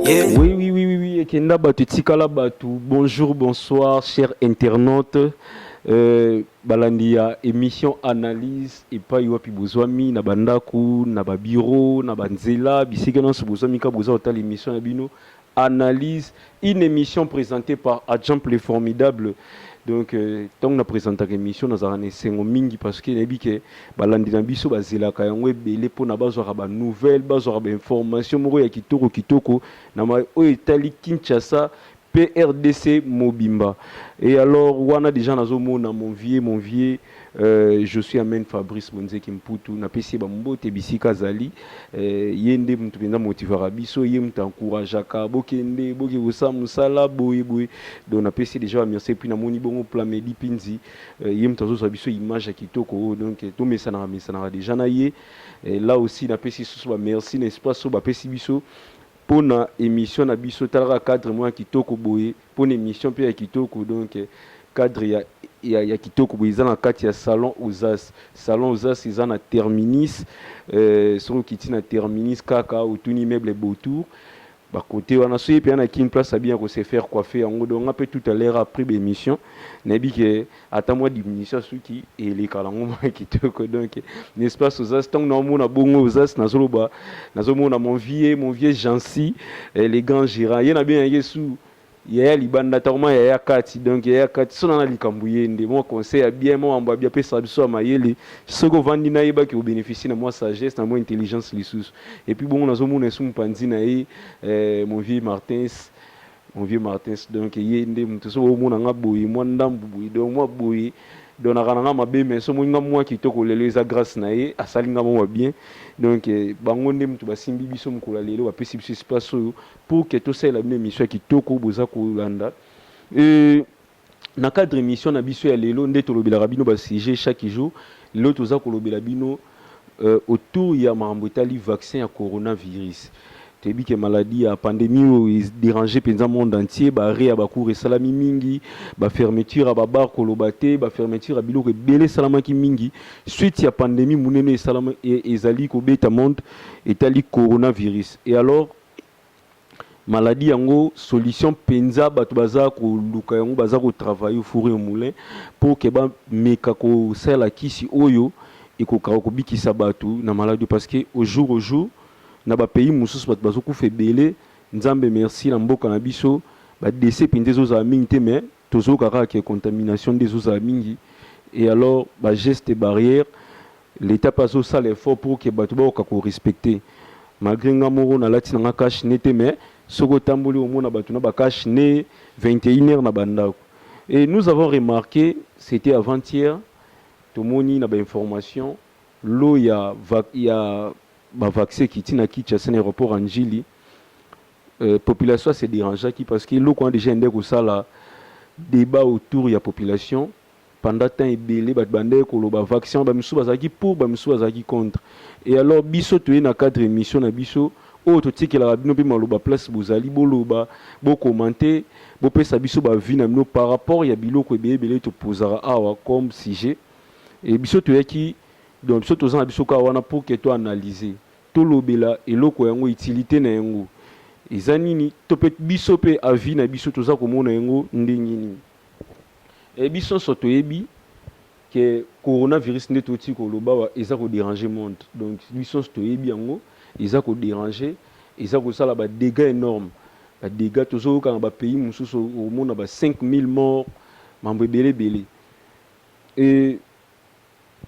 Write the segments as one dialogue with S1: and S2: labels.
S1: Oui, oui, oui, oui, oui,
S2: Ekenda Batu, Tikala Batu, bonjour, bonsoir, chers internautes. Euh, balandi ya émission analyse epai wapi bozwami na bandako na babiro na banzela bisika nyonso bozwami ka boza kotala émission na bino analyse une emission presentee par Adjamp le formidable donc ntango euh, na presentaka emission nazalaka na esengo mingi parce que nayebi ke balandi na biso bazelaka yango ebele mpo na bazwaka banouvelle bazwaka bainformation moko ya kitoko kitoko na oyo etali kinshasa PRDC mobimba. Et alors, wana déjà nazo mona mon vieux, mon vieux Euh, je suis amen Fabrice Monzeki Mputu, napesi ye bambote bisika azali. Euh, ye nde moto mpenza motivaka biso, ye moto encourageaka bokende boke kosala mosala boye boye. Donc napesi deja bamercie, puis namoni bongo Plamedi Pinzi, euh, ye moto azozwa biso image ya kitoko oyo, oh, donc eh, tomesanaka mesanaka deja na ye. Eh, là aussi napesi susu bamercie na espace oyo bapesi biso mpo na émission na biso, talaka cadre moko ya kitoko boye. Pona emission pe ya kitoko donc cadre ya ya kitoko boye eza na kati ya salon uzas salon uzas eza na terminis soki okiti na terminis kaka otuni meuble beautour ba cote wana soki ye pena na kin place abina ko se faire coiffer yango donc nga pe tout à l'heure après ba emission nayebi ke ata mwa diminution ya suki eleka nango mwa kitoko donc n'est-ce pas Sozas ntango naomona bongo Ozas nazoloba nazomona mon vieux mon vieux Jancy eh, le grand gérant ye nabengaki ye su yaya libanda ntakoma yaya kati donc yaya kati sona na likambo ye nde mwa conseil ya bien mwa mambo ya bien apesaka biso ya mayele soki ovandi nayebaki obénéficie na mwa sagesse na mwa intelligence lisusu epuis bongo nazomona esu mopanzi na ye eh, mon vieux Martins Mon vieux Martins donc ye nde mutu soki omona nga boye mwa ndambu boye donc mwa boye donc naka na nga mabe mais soki omoni nga mwa kitoko lelo eza grace na ye asali nga mwa ba bien donc bango nde mutu basimbi biso mukolo ya lelo bapesi biso espace oyo pour que tosalela bino emission ya kitoko boza kolanda euh Na cadre emission na biso ya lelo nde tolobelaka bino ba sujets chaque jour. Lelo toza kolobela bino euh, autour ya makambo etali vaccin ya coronavirus. Toyebi ke maladie ya pandemie oyo e deranger penza monde entier, ba arrets ya ba cours esalami mingi, ba fermetures ya ba bars koloba te, ba fermetures ya biloko ebele esalamaki mingi. Suite ya pandemie munene esalama e, ezali kobeta monde etali coronavirus. Et alors Maladie yango solution penza batu baza koluka yango baza ko travailler au four et au moulin pour que ba meka kosala kisi oyo ekokaka kobikisa batu na maladie parce que au jour au jour na ba pays mosusu batu bazokufa ebele nzambe merci na mboka na biso ba dese penza ezozala mingi te mais Tozoyoka kaka que contamination nde ezozala mingi et alors ba gestes barrières l'etat pe azosala effort pour que batu bakoka ko respecter. Malgre nga moko nalati na nga cache nez te mais soki otamboli omona batu na ba cache nez 21 heures na ba ndaku. Et nous avons remarque, c'etait avant hier, tomoni na ba informations lot ya ya ba vaccin ekiti na Kinshasa na aeroport ya Ndjili. population a se derangeaki parce que eloko wana dejà eyandaki kosala debat autour ya population pendant temps ebele bato bandaki koloba vaccin wana ba misusu bazalaki pour ba misusu bazalaki contre et alors biso toye na cadre ya emission na biso oyo totikelaka bino mpe maloba place bozali boloba bo commente bopesa biso ba vie na bino par rapport ya biloko ebele ebele topozaka awa comme sujet et biso toyaki donc biso toza na biso kaka wana pour que to analyser Tolobela eloko yango utilite na yango eza nini to pe biso pe avis na biso toza komona yango ndenge nini eh biso nionso toyebi que corona virus nde to ti koloba awa eza ko deranger monde donc biso nionso toyebi yango eza ko deranger eza kosala ba degat enorme ba degat tozo yoka na ba pays mususu omona ba 5000 morts mambo ebele ebele eh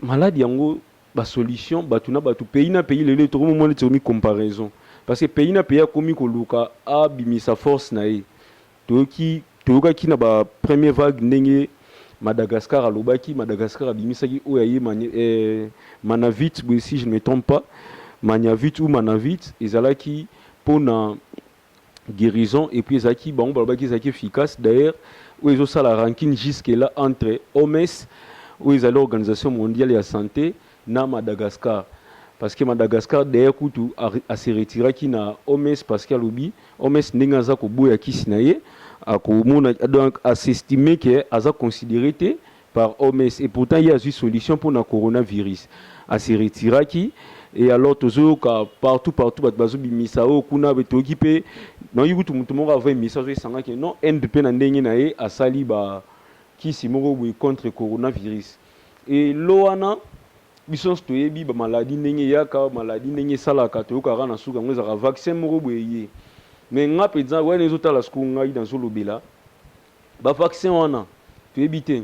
S2: Malade yango ba solution batu na batu pays na pays lelo tokomi komona neti ekomi comparaison parce que pays na pays akomi koluka abimisa force na ye toyoki toyokaki na ba premier vague ndenge Madagascar alobaki Madagascar abimisaki oyo aye mani, eh, Manavit boye si je ne me trompe pas Maniavit ou Manavit ezalaki mpo na guerison epuis ezalaki bango balobaki ezalaki efficace d'ailleurs oyo ezosala rankine jusque là entre oms oyo ezali organisation mondiale ya sante na madagascar parce que madagascar d'ailleurs kutu aseretiraki na oms parce que alobi oms ndenge aza koboya kisi na ye akomona donc asestime ke aza considere te par OMS et pourtant ye azui solution pona corona virus a se retiraki et alors tozo yoka partout partout batu bazo bimisa oyo kuna boye toyoki pe nayoki kutu mutu moko avo emisa azo esanga ke non Inde pe na ndenge na ye asali ba kisi moko boye contre corona virus et lo wana biso nionso toyebi ba maladie ndenge eyaka maladie ndenge esalaka toyoka kaka na suka yango ezalaka vaccin moko boye eye mais nga penza wana ezo tala sikoyo ngai nazo lobela Ba vaccin wana toyebi te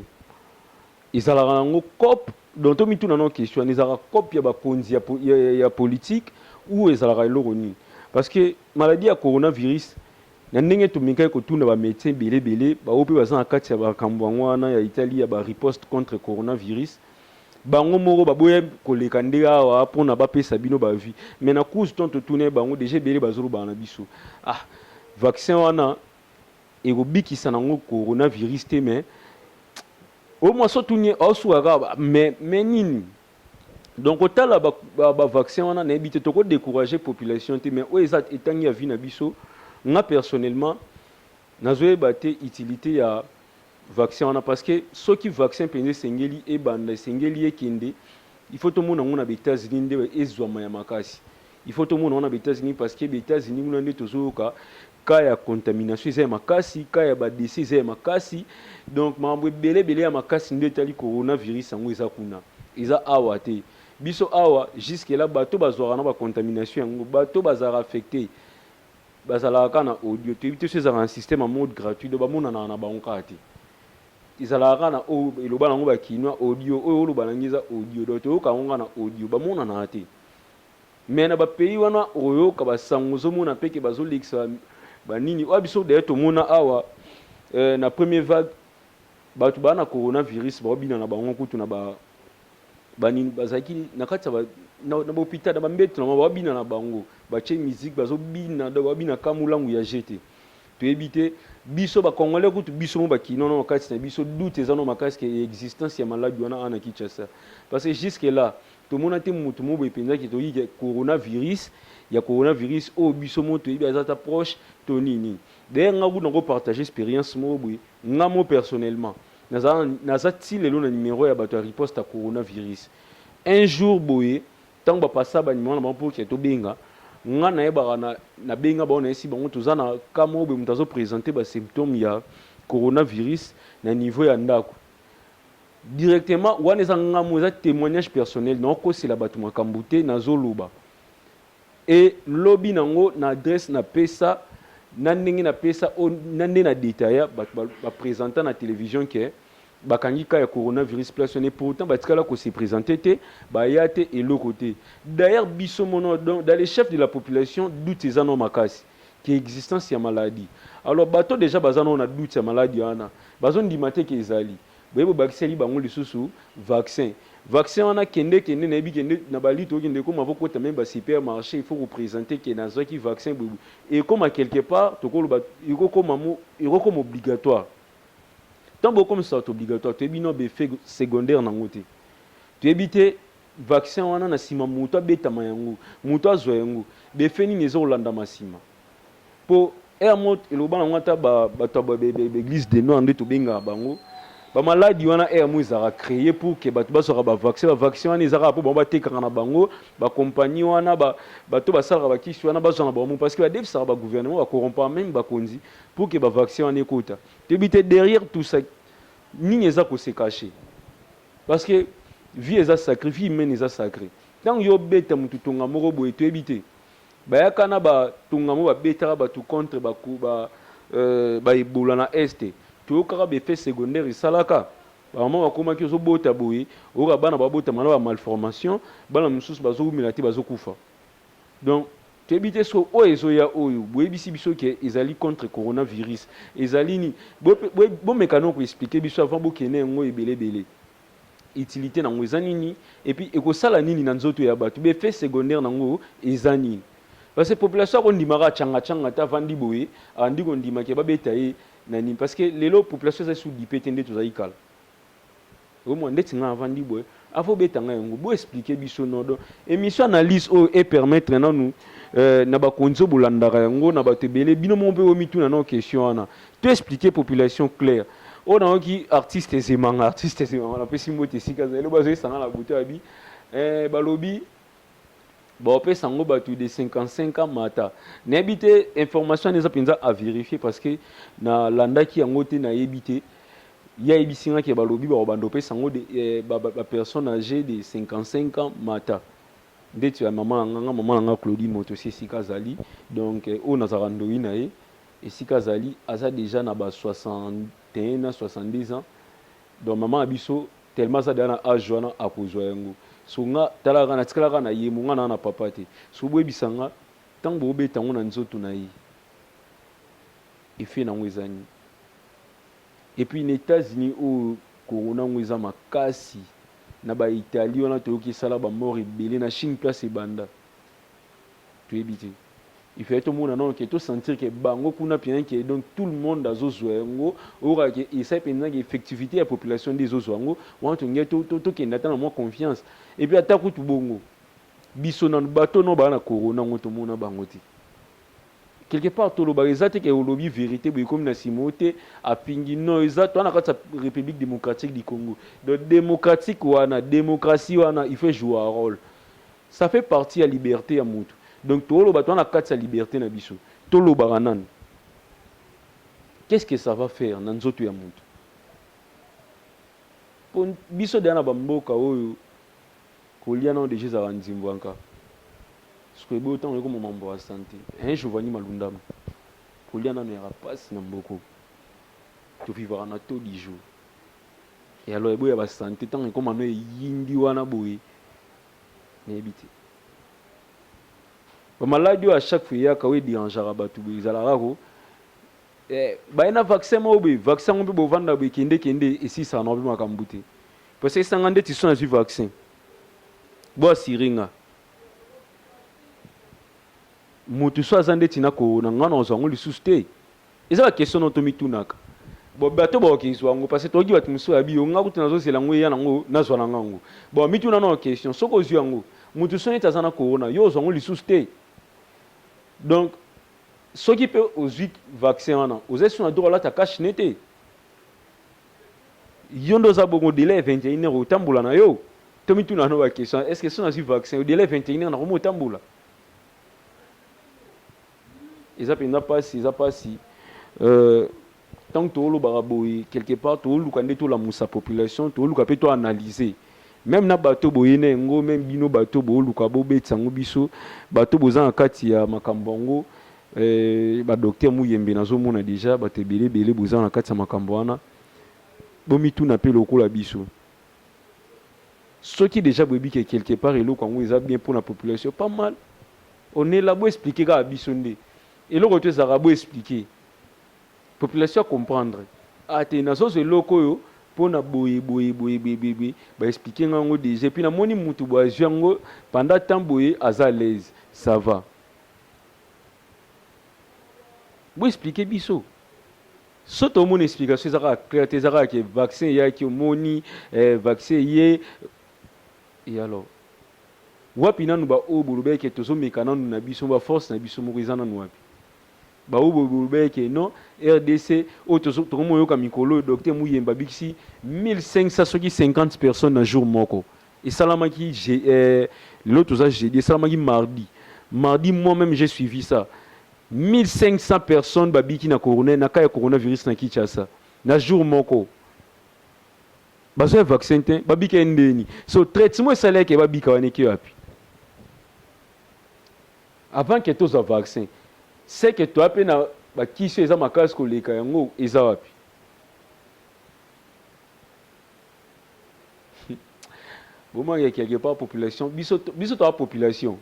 S2: ezalaka nango cop donc tomituna nao question wana ezalaka cop ya bakonzi ya, ya, ya politique ou ezalaka eloko nini parce que maladie ya coronavirus na ndenge tomekaki kotuna ba medecin ebele ebele baoyo mpe baza na kati ya bakambo yango wana ya itali ya ba riposte contre coronavirus bango moko baboya koleka nde awa mpona bapesa bino bavi me na cause ntango totuna ye bango deja ebele bazolobana na biso ah vaccin wana ekobikisa nango corona virus te mais oyo mwasi otuni osuka kaka mais mais nini donc kotala ba, ba, ba vaccin wana nayebi te toko décourager population te mais oyo eza etangi ya vie na biso nga personnellement nazoyeba te utilité ya vaccin wana parce que soki vaccin mpenza esengeli ebanda esengeli ekende il faut tomona yango na ba états-unis nde ezwama ya makasi il faut tomona yango na ba états-unis parce que ba états-unis kuna nde tozoyoka cas ya contamination eza ya makasi, cas ya ba dese eza ya makasi, donc makambo ebele ebele ya makasi nde etali corona virus yango eza kuna, eza awa te. Biso awa jusque là bato bazwaka na ba contamination yango bato bazalaka affecte bazalaka kaka na audio, toyebi te so ezalaka na système ya mode gratuit donc bamonanaka na bango kaka te ezalaka kaka na oyo eloba na yango ba kinois audio oyo oloba na ngai eza audio donc toyoka yango kaka na audio bamonanaka te. Mais na ba pays wana okoyoka ba sango ozomona pe ke bazolekisa ba nini oyo biso d'ailleurs tomona awa eh, na premier vague batu ba na corona virus baobina na bango kutu na ba ba nini bazalaki na kati ya ba na, na hôpital na ba mbetu na bango baobina na bango batie musique bazobina donc baobina kama mulangu ya je te toyebi te biso ba congolais kutu biso mo bakino na kati na biso doute eza no makasi ke existence ya maladi wana ana Kinshasa parce que jusque là Tomona te mutu moboye penza ke toyebi ke coronavirus ya coronavirus oyo biso moko toyebi aza ata proche to nini nini. D'ailleurs nga kutu nako partager experience moko boye nga moko personnellement naza naza ti lelo na numero ya batu ya riposte ya coronavirus. Un jour boye tangu ba passa ba numero na bango po ke tobenga nga nayebaka na nabenga bango nayebisi bango toza na cas moko boye mutu azo presenter ba symptomes ya coronavirus na niveau ya ndaku. Directement wana eza nga mo eza temoignage personnel nao kosela batu makambu te nazo loba et lobi nango na adresse na pesa na ndenge na pesa na nde na detailla batu ba, ba presenta na television ke bakangi ka ya coronavirus place wana pourtant batikala ko se presenter te baya te eloko te d'ailleurs biso mono donc dans les chefs de la population doute eza no makasi ke existence ya maladie alors bato deja baza no na doute ya maladie wana bazo ndima te ke ezali Boye bobakiseli bango lisusu vaccin vaccin wana kende kende nayebi kende na ba lutte okende ekoma faut kota meme ba super marche il faut ko presenter que nazwaki vaccin boye boye ekoma quelque part tokoloba ekokoma mo ekokoma obligatoire tant bokomisa bato obligatoire toyebi no befe secondaire nango te toyebi te vaccin wana na nsima moto abetama yango moto azwa yango befe nini ezokolandama nsima Po heure moko eloba nango ata ba batu ba eglise de noir nde tobengaka bango ba maladi wana heure moko ezalaka cree pour que batu bazwaka ba vaccin ba vaccin wana eza kaka po bango batekaka na bango ba compagnie wana ba batu basalaka ba kisi wana bazwa na bango moko parce que badefisaka ba gouvernement ba corrompaka meme bakonzi pour que ba vaccin wana ekota toyebi te derrière tout ça nini eza ko se cacher parce que vie eza sacree vie humaine eza sacree ntango yo obeta mutu tonga moko boye toyebi te Bayaka na ba tonga moko ba betaka batu contre ba ba ba ebola na est toyokaka ba effet secondaire esalaka ba maman bakomaki ozo bota boye oyoka bana ba botama na ba malformation bana mususu bazo wumela te bazo kufa donc toyebi te soki oyo ezoya oyo boyebisi biso ke ezali contre coronavirus ezali nini bomeka noko explique biso avant bokende yango ebele ebele utilite nango eza nini et puis ekosala nini na nzoto ya batu ba effet secondaire nango eza nini parce que population ako ndima kaka changa changa ta vandi boye abandi ko ndima ke ba beta ye na nini parce que lelo population eza sous dipe te nde tozali kala oyo mwa ndeti nga avandi boye avo beta nga yango bo expliquer biso no donc émission analyse oyo e permettre nanu euh, na bakonzi oyo bolandaka yango na bato ebele bino moko mpe omituna nao question wana To expliquer population claire. Oyo na yoki artiste Zemanga, artiste Zemanga na pesi mbote esika za eloba zo esanga na buto abi eh balobi ba opesa ngo batu de 55 ans mata. Na yebi te information wana eza penza à vérifier parce que na landaki yango te na yebi te. Ye ayebisi nga ke balobi ba obanda opesa ngo de eh, ba, ba, ba personnes âgées de 55 ans mata. Ndeti ya maman na nga, nga maman na nga Claudie Moto si esika azali. Donc eh, oyo nazalaka ndoyi na ye. Esika azali aza dejà na ba 61 na 62 ans donc maman na biso tellement aza dejà na age wana akozua yango so nga tala kaka natikala kaka na yemo nga naza na papa te soki boyebisa nga tango bobeta yango na nzoto na ye effet na yango eza nini et puis na etats unis oyo corona yango eza makasi na ba italie wana toyoki esala ba mort ebele na chine place ebanda toyebi te il fallait tomona nano ke to sentir ke bango kuna mpenza ke donc tout le monde azozwa yango oyokaka ke esai mpenza ke effectivité ya population nde ezozwa yango wana tolingai tokende ata na mwa confiance epuis ata kutu bongo biso nano bato nao baa na corona yango tomona bango te quelque part tolobaka eza te ke olobi verité boye ekomi na nsima oyo te afingi no eza toa na kati ya république démocratique du congo donc démocratique wana démocratie wana il faut joua role Ça fait partie ya liberte ya mutu donc toloba toza na kati ya liberte na biso tolobaka nanu qu'est ce que ça va faire na nzoto ya mutu? Po biso dejà na ba mboka oyo kolia nanu dejà ezalaka nzimbuanka sikoyo tango ekoma mambo ya sante hein Giovanni Malundama kolia nanu eyaka pasi na mboka oyo to vivaka na taux du jour et alors eboya ba sante tango ekoma no eyindi wana boye nayebi te ba maladi oyo a chaque fois eyaka oyo ederangeaka bato boye ezalaka ko eh, baye na vaccin moko boye vaccin yango mpe bovanda boye kende kende esisaka na mpe makambo te parce que esanga ndeti so nazwi vaccin bo asire nga moto so aza ndeti na corona nga na ozwa yango lisusu te Eza ba question nao tomitunaka bon bato bakoki zua yango parce toyoki bato mosusu bayabi yo nga kutu nazozela yango eya nango nazua nanga yango bon mituna nao question soki ozui yango mutu soki neti aza na corona yo ozua yango lisusu te donc soki pe ozui vaccin wana oza lisusu na droit olata cache ne te yo nde oza bongo delai ya 21 heure otambola na yo tomituna no ba question est ce que soki nazui vaccin delai 21 heure nakomi otambola Eza penza pasi eza pasi euh tangu to lobaka boye quelque part to luka nde to lamusa population to luka pe to analyse meme na bato boye na yango meme bino bato bo luka bo betisa ngo biso bato boza na kati ya makambo yango euh ba docteur Muyembe nazo mona dejà bato ebele ebele boza na kati ya makambo wana bo mituna pe lokola biso soki dejà boyebi ke quelque part eloko yango eza bien pona population pas mal Ohh nella bo explique kaka biso nde eloko tout ezalaka bo explique population a comprendre ah te nazo zwa eloko oyo pona boye boye boye boye ba explique nga ngo dejà epuis na moni mutu boye azwi yango pendant temps boye aza alaise ça va bo explique biso soki to mona explication eza kaka clair te eza kaka ke vaccin eyaki omoni eh vaccin eye et alors Wapi nanu ba oyo bolobaki ke tozo meka nanu na biso ba force na biso moko eza nanu wapi? Ba oyo bolobaki ke non rdc oyo tozo toko mo yoka mikolo oyo Docteur Muyemba abikisi 1500 soki 50 personnes na jour moko esalamaki je eh lelo toza jeudi esalamaki mardi mardi moi meme j'ai suivi ça 1500 personnes babiki na corona na cas ya coronavirus na Kinshasa na jour moko. Bazo ya vaccin te, babika ye ndeni. So traitement esali yake babika wana eke wapi? Avant que tozwa vaccin, c'est que toya pe na bakisi oyo eza makasi koleka yango eza wapi? Boma ya quelque part population biso biso toa population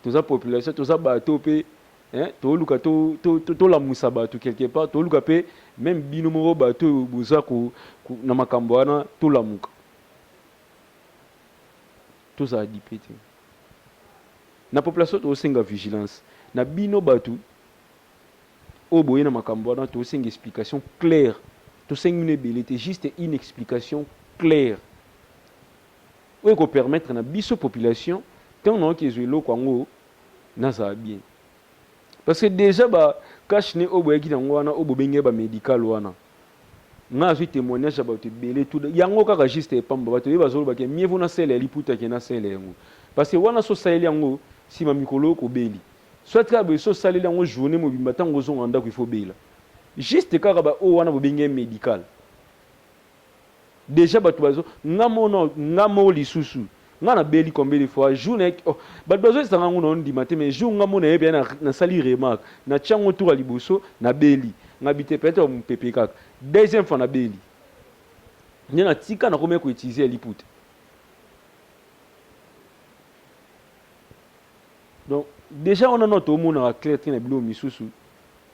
S2: toza population toza bato pe hein toluka to tolamusa bato quelque part toluka pe meme bino moko bato oyo boza ko na makambo wana tolamuka tozala dipe te na population tosenga vigilance na bino bato oyo boye na makambo wana tosenga explication claire tosengi bino ebele te juste une explication claire oyo eko permettre na biso population tango nayoki ezua eloko yango nazala bien parce que dejà ba cash ne oyo boyaki nango wana oyo bobengi ye ba medical wana nga nazui temoignage ya bato ebele tout yango kaka juste epamba bato ebele bazoloba ke mieux vaut na sele ya liputa ke na sele yango parce que wana so saleli yango sima mikolo oko beli soit kaka boye so saleli yango journée mobimba tango ozonga ndako il faut bela juste kaka ba oyo wana bobengi ye medical Dejà batu bazo nga moko non nga moko lisusu nga na beli combien de fois jour na oh, batu bazo yesa nga ngo na ondima te mais jour nga moko na yebi na, na sali remarque na tia ngo tour ya liboso na beli nga bite peut-être ba mupepe kaka deuxième fois na beli nde na tika na komaki ko utiliser ya liputa donc déjà wana no tomonaka clair te na biloko misusu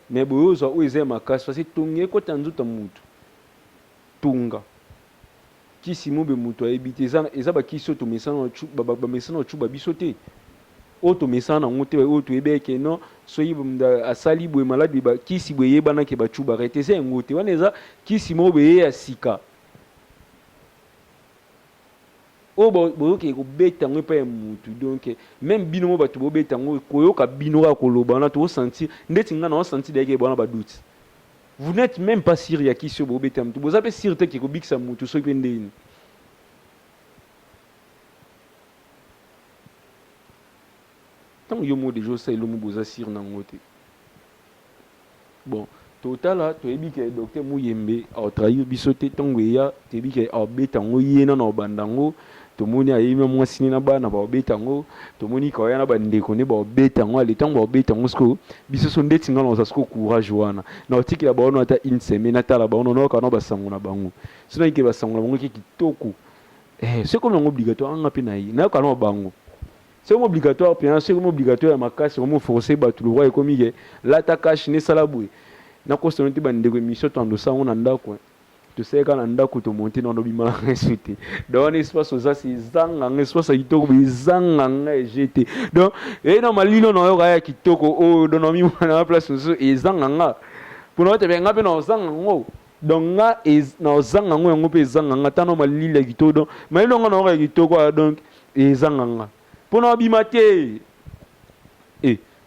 S2: mais boyozwa oyo eza ya makasi parce que tongi ekota nzoto ya motu Tonga kisi mobe mutu ayebi te eza eza ba kisi oyo tomesana na chu ba bamesana na chuba biso te oyo tomesana na ngo te oyo toyebi eke non soki asali boye maladi ba kisi boye eyebana ke ba chuba rete eza yango te wana eza kisi moko beye ya sika oyo bozokee kobeta yango epai ya mutu donc meme bino mo bato bobeta yango koyoka bino kaka koloba wana tokosanti ndeti ngai na osanti dayeke ebwana baduti Vous n'etes meme pas sur ya kisi oyo bobetela mutu. Boza pe sur te ke ekobikisa mutu soki pe ndeni. Tango yo moko deja osala eloko boza sur na ngo te. Bon, totala toyebi ke docteur muyembe aotrahir biso te ntango eya toyebi ke aobeta yango ye nano aobanda yango Tomoni aye na mwasi ne na bana baobeta yango, tomoni ka oya na ba ndeko ne baobeta yango, ale tango baobeta yango sikoyo biso so ndeti nga naoza sikoyo courage wana naotikela baono ata une semaine natala baono nayoka nao ba sango na bango so nayoki ke ba sango na bango eke kitoko eh so ekomi yango obligatoire anga mpe naye nayoka nao bango so ekomi obligatoire mpenza so ekomi obligatoire ya makasi ekomi oforce bato lokwa ekomi ke lata cash ne sala boye nakosana te bandeko emission tando sango na ndako eh. Tosali kaka na ndako to monte na lobi mala nga esu te. Donc wana espace oza si zanga nga espace ya kitoko bi zanga nga eje te. Donc eh non malino na yo kaya kitoko o oh, don mi mwana na place ozo ezanga nga. Pona ote be nga pe na zanga ngo. Donc nga ez na zanga ngo yango pe ezanga nga tano malili ya kitoko donc malino nga na yo ya kitoko ah, donc ezanga nga. Pona obima te. Eh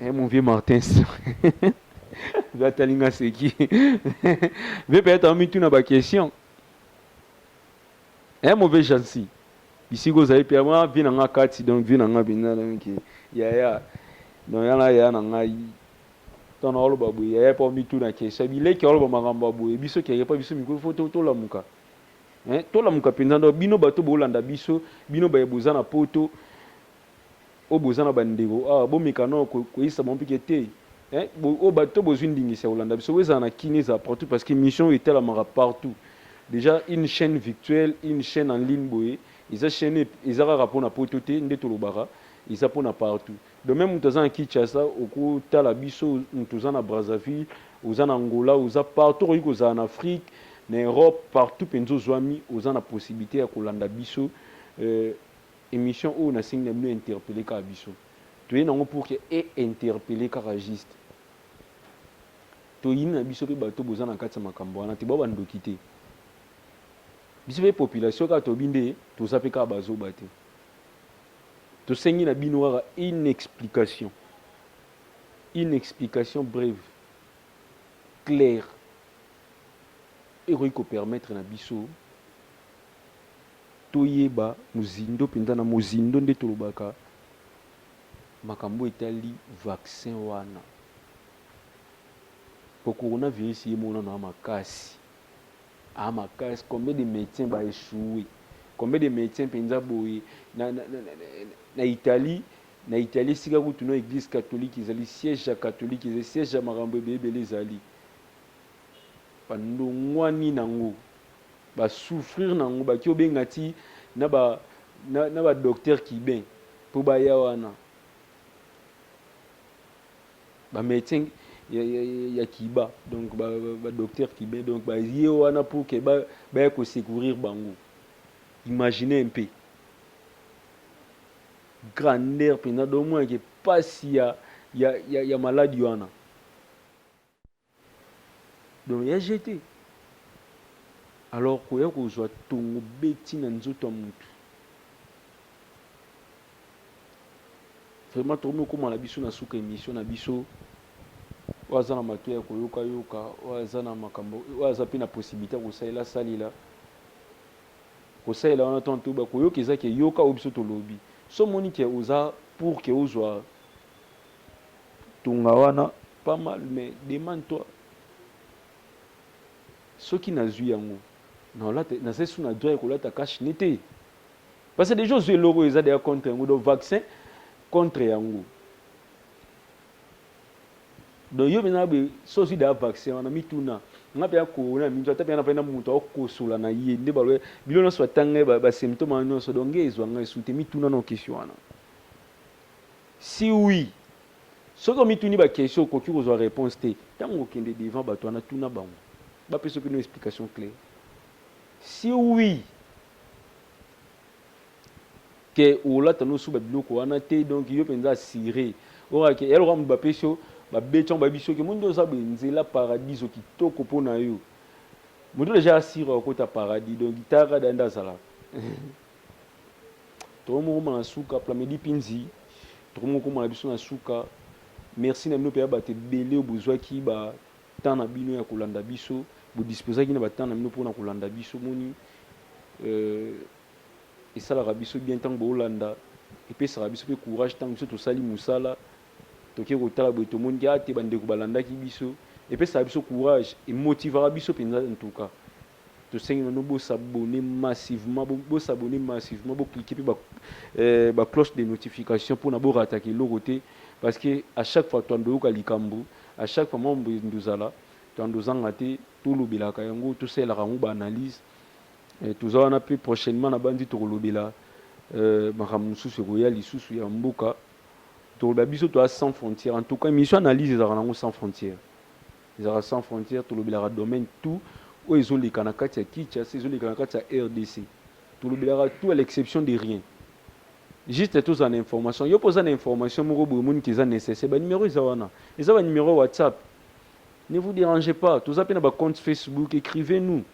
S2: Eh, mon vieux Martins. Zatalinga c'est qui Vieux peut-être en mitu na ba question. Eh, mon vieux Jansi. Ici, vous avez permis, ah, vie nanga kati, donc vie nanga bina, donc, yaya. Donc, yana, yaya nanga, tana olo babu, yaya pa mitu na question. Bile ki olo ba makambo babu, e biso ki pa biso miko, faut to, to la muka. Eh, to la muka penza, donc, bino bato bolanda biso, bino baye bozana poto, Oyo boza na ba ndeko awa bo meka nao ko kweyisa bango pike te hein bo oyo ba to bozui ndingisa ya kolanda biso ezala na kin ezala partout parce que mission oyo etalamaka partout dejà une chaine victuelle une chaine en ligne boye eza chaine ep eza kaka pona poto te nde tolobaka eza pona partout donc meme mutu aza na Kinshasa oko tala biso mutu oza na Brazzaville oza na Angola oza partout okoki kozala na Afrique na Europe partout penza ozuami oza na possibilite ya kolanda biso euh Emission oyo nasengi na bino interpelle kaka biso toye nango pour que e interpelle kaka juste toyini na biso pe bato boza na kati ya makambo wana te boa ba ndoki te biso pe population kaka tobi nde toza pe kaka bazoba te tosengi na bino kaka une explication une explication breve claire ekoki ko permettre na biso toyeba mozindo mpenza, na mozindo nde tolobaka makambo oyo etali vaccin wana. Po coronavirus ye moko nanu a makasi, a makasi, combien de medecins ba echouer, combien de medecins mpenza boye na, na, na, na, na Italie, na Italie esika kutu no eglise catholique ezali, siège ya catholique ezali, siège ya makambo ebeebele ezali. Ba ndongwani nango ba souffrir nango baki obenga ti na ba na ba docteur cubain po baya wana ba medecin ya, ya, ya Cuba donc ba, ba, ba docteur cubain donc baye wana pour que ba baya ko secourir bango imagine un peu grandeur mpenza domonake pasi ya, ya, ya, ya maladi wana Donc ya jeu te alors koya kozwa tongo beti na nzoto ya mutu vraiment tokomi kokoma na biso na suka emission na biso oyo aza na matoya ya koyoka yoka oyo aza na makambo oyo aza mpe na possibilité ya kosalela asalela kosalela wana tanto bakoyoka eza ke yoka oyo biso tolobi so omoni ke oza pour ke ozwa tonga wana pas mal mais demande toi soki nazui yango naolata naza su na droit ya kolata cache ne te parce que deja ozui eloko eza deja contre yango donc vaccin contre yango donc yo mpenza boye so ozwi deja vaccin wana mituna nga mpenza corona ya minzo ata mpenza nafai na moto akokosola na ye nde baloye bilo nyonso batanga basymptome wana nyonso donc nge ezwa ngai su te mituna na okesio wana Si oui, soki omituni ba questions okoki kozua reponse te, tango okokende devant batu wana tuna bango bapesa yo kino explication claire. Si oui, que olata no suba biloko wana te donc yo penza assure ora que yaloka mutu bapesi yo babeti yango bayebi soki omoni nde oza boye nzela paradiso kitoko mpo na yo moto deja asire okota paradis donc tara da nde azalaka Tokomi kokoma na suka Plamedi Pinzi, tokomi kokoma na biso na suka. Merci na bino mpenza bato ebele oyo bozwaki ba temps na bino ya kolanda biso, bo disposaki na ba temps na bino mpo na kolanda biso. Omoni euh, esalaka biso bien ntango boolanda, epesaka biso mpe courage ntango biso tosali mosala toke kotala boye tomoni ke ate ah, bandeko balandaki biso, epesaka biso courage, emotivaka biso mpenza en tout cas. Tosengi na bino bo s'abonner massivement, bo bo s'abonner massivement, bo cliquer pe ba euh, ba cloche de notification pona bo rataka eloko te parce que à chaque fois toando yoka likambu, à chaque fois mambo endo zala toando zanga te, to lobelaka yango, to salelaka yango ba analyse, eh, toza wana pe prochainement na banzi toko lobela euh, makambo mususu ekoya lisusu ya mboka, toko lobela biso toza sans frontière, en tout cas emission analyse ezalaka nango sans frontière. Ezalaka sans frontière tolobelaka domaine tout oyo ezo leka na kati ya Kinshasa ezo leka na kati ya rdc tolobelaka tout à l'exception de rien juste tozala na information yo mpe oza na information moko boye omoni ke eza necessaire ba numero eza wana eza ba numero ya whatsapp ne vous dérangez pas toza mpe na ba compte facebook écrivez nous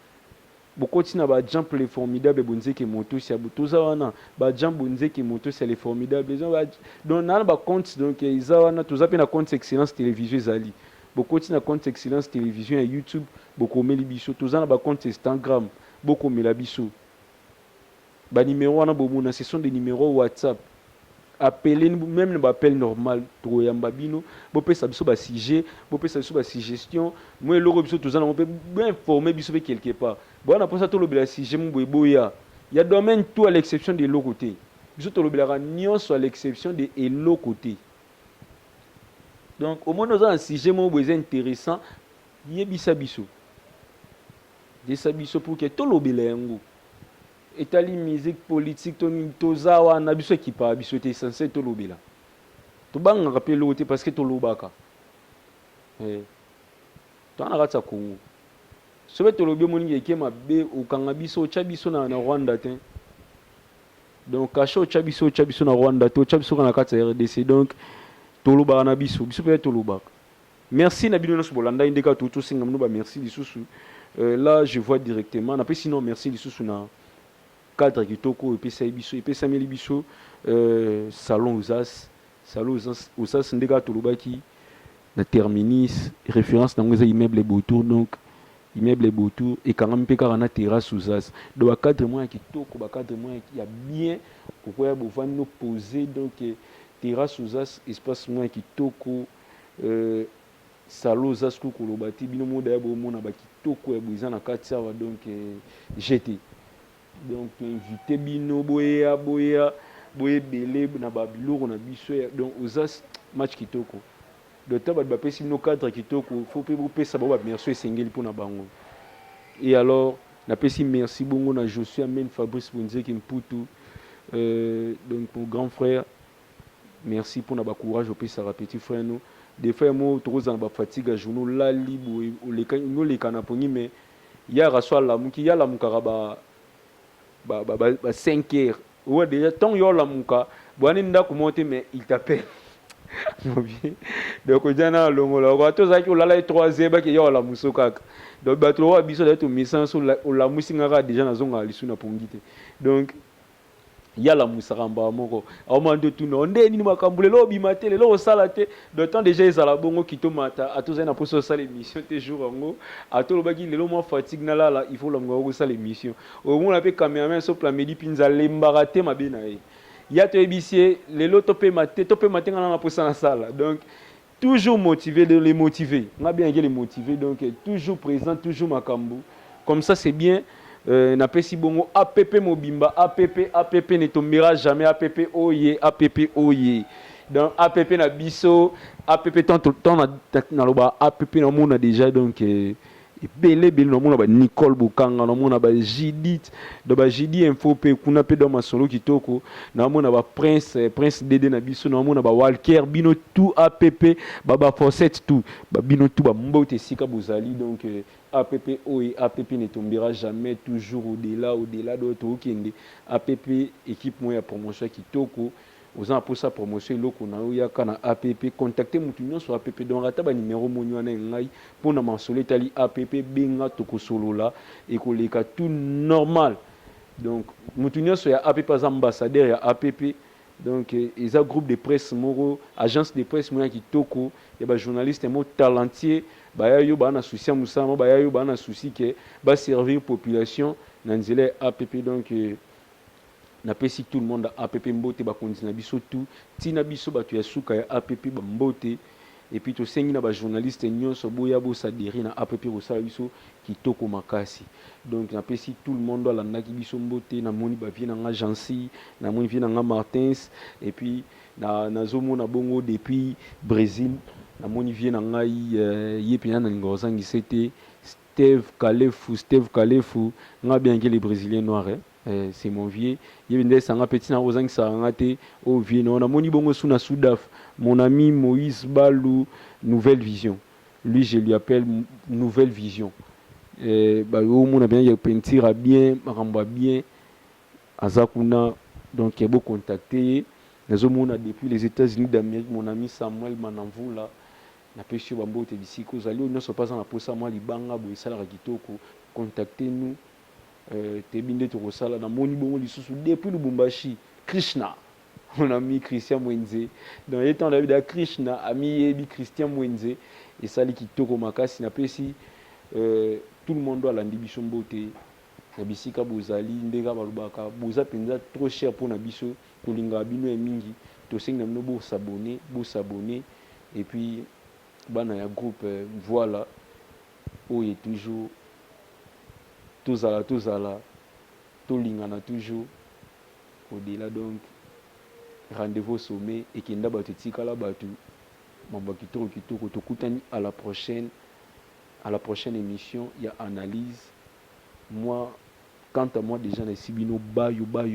S2: Bokoti na ba jean le formidable bonzeke motos ya toza wana ba jean bonzeke motos ya le formidable eza ba donc na ba compte donc eza wana toza pe na compte excellence television ezali bokoti na compte excellence television ya youtube bokomeli biso toza na ba compte instagram bokomela biso Ba numero wana bomona ce sont des numeros WhatsApp. Appelez nous même na ba appel normal tokoyamba bino, bopesa biso ba sujet, bopesa biso ba suggestion, mwa eloko biso toza nango mpe bo informer biso mpe quelque part. Boza na mposa tolobela sujet moko boye boya. Ya domaine tout à l'exception de eloko te. Biso tolobelaka nionso à l'exception de eloko te. Donc omoni oza na sujet moko boye eza interessant yebisa biso. Yebisa biso pour que tolobela yango. Etali musique, politique to nini toza wana biso ekipaka biso te essentiel tolobela. Tobangaka pe eloko te parce que tolobaka. Eh. Toza na kati ya Congo. Soki tolobi omoni ke eke mabe okanga biso otya biso na, na Rwanda te. Donc kasha otya biso otya biso na Rwanda te otya biso kaka na kati ya RDC. Donc tolobaka na biso biso pe tolobaka. Merci na bino nionso bolandaki nde kaka touti tosenga bino ba merci lisusu euh, là je vois directement napesi no merci lisusu na cadre kitoko oyo epesaki biso epesameli biso euh, salon osas salon osas, osas nde kaka tolobaki na terminis référence nango eza immeuble botour donc immeuble botour ekangami mpe kaka na terrasse osas donc bacadre mwa ya kitoko bacadre mwa ya bien okoya bovandi no pose donc terrasse osas espace mwa ya kitoko Euh Salo oza sikoyo koloba te bino moko daya bomona ba kitoko ya boye eza na kati awa donc euh, jete donc to invite bino boya boya boye ebele na ba biloko na biso ya donc oza match kitoko donc ta bato bapesi bino cadre kitoko faut mpe bopesa bango ba merci esengeli mpo na bango et alors napesi merci bongo na Josué Amen Fabrice Bonzeki Mputu euh, donc mon grand frère Merci pona ba courage opesaka petit frère no de fois yemo toko zala na ba fatigue ya journee olali boye oleka olingi oleka na pongi mais yaka so alamuki ye alamukaka ba ba ba ba, ba 5 heures owa deja tango yo olamuka boyani ndako moko te mais il t'appelle mobi donc oja na alongola ko ata ozalaki olala ye 3 heures bake ya olamuso kaka donc bato lokola biso daye tomesana so olamusi nga kaka deja nazongaka lisu na pongi te donc ye alamuisaka mbala moko aoma nde otuna yo nde nini makambo lelo obima te lelo osala te de temps deja ezala bongo kito mata ata ozali na mposa osala emission te jour yango ata olobaki lelo mwa fatigue nalala il faut olamuka okoki osala emission omona mpe cameraman so plamedi mpinza alembaka te mabe na ye ya toyebisi ye lelo topema te topema te nga na na mposa nasala donc Toujours motive de les motiver. Nga bien les motiver donc toujours présent toujours makambu. Comme ça c'est bien euh, na pesi bongo APP mobimba APP APP ne tombera jamais APP oye oh APP oye. Oh yeah. donc app na biso app tant tant na loba app na mona déjà donc euh, ebele ebele na mona ba Nicole Bokanga na mona ba Judith do ba Judi info pe kuna pe do masolo kitoko na mona ba Prince eh, Prince Dede na biso na mona ba Walker bino tout APP ba ba Fawcett tout ba bino tout ba mbote esika bozali donc eh, APP oye APP ne tombera jamais toujours au-delà au-delà do tokende APP équipe moya promotion kitoko Oza na posa ya promotion eloko na yo yaka na app contacte mutu nionso ya app donc ata ba numero omoni wana ya ngai po na masolo etali app benga toko solola eko leka tout normal donc mutu nionso ya app aza ambassadeur ya app donc eza groupe de presse moko agence de presse moko ya kitoko ya ba journaliste moko talentier baya yo baya na souci ya musala moko baya yo baya na souci que ba servir population na nzela ya app donc Na pesi tout le monde app mbote ba konzi na biso tout ti na biso batu ya suka ya app ba mbote et puis to sengi na ba journaliste nionso boya bo s'adherer na app ko sala biso kitoko makasi donc na pesi tout le monde alandaki biso mbote na moni ba vieux na nga Jeancy na moni vieux na nga Martins et puis na nazo mona bongo depuis Bresil na moni vieux na ngai euh, ye pena na linga ko zangisa te Steve Kalefu Steve Kalefu nga bien que les brésiliens noirs eh? Eh c'est mon vieux ye nde esanga pe tina ozangisaka nga te oyo vieux nao namoni bongo su na sudaf mon ami moise balu nouvelle vision lui je lui appelle nouvelle vision eh bayo omona bien ya peinture ya bien makambo ya bien aza kuna donc eh, bo contacter ye nazo mona depuis les etats unis d'amerique mon ami samuel manamvula napesi yo bambote bisika ozali oyo nyonso mpe aza na posa mwa libanga boye esalaka kitoko contacter nous Toyebi nde tokosala na moni bongo lisusu depuis Lubumbashi Krishna mon ami Christian Mwenze dans ye temps David Krishna ami yebi Christian Mwenze esali kitoko makasi na pesi euh, tout le monde alandi biso mbote na bisika bozali ndeka balobaka boza penza trop cher pona biso tolingaka bino ya mingi tosengi na bino bo s'abonner bo s'abonner et puis bana ya groupe euh, voilà Oye toujours tozala tozala tolingana toujours au dela donc rendez-vous au sommet ekenda batu etikala batu mambo ya kitoko kitoko tokutani à la prochaine à la prochaine emission ya analyse moi quant à moi dejà nayebisi bino bayo bayo.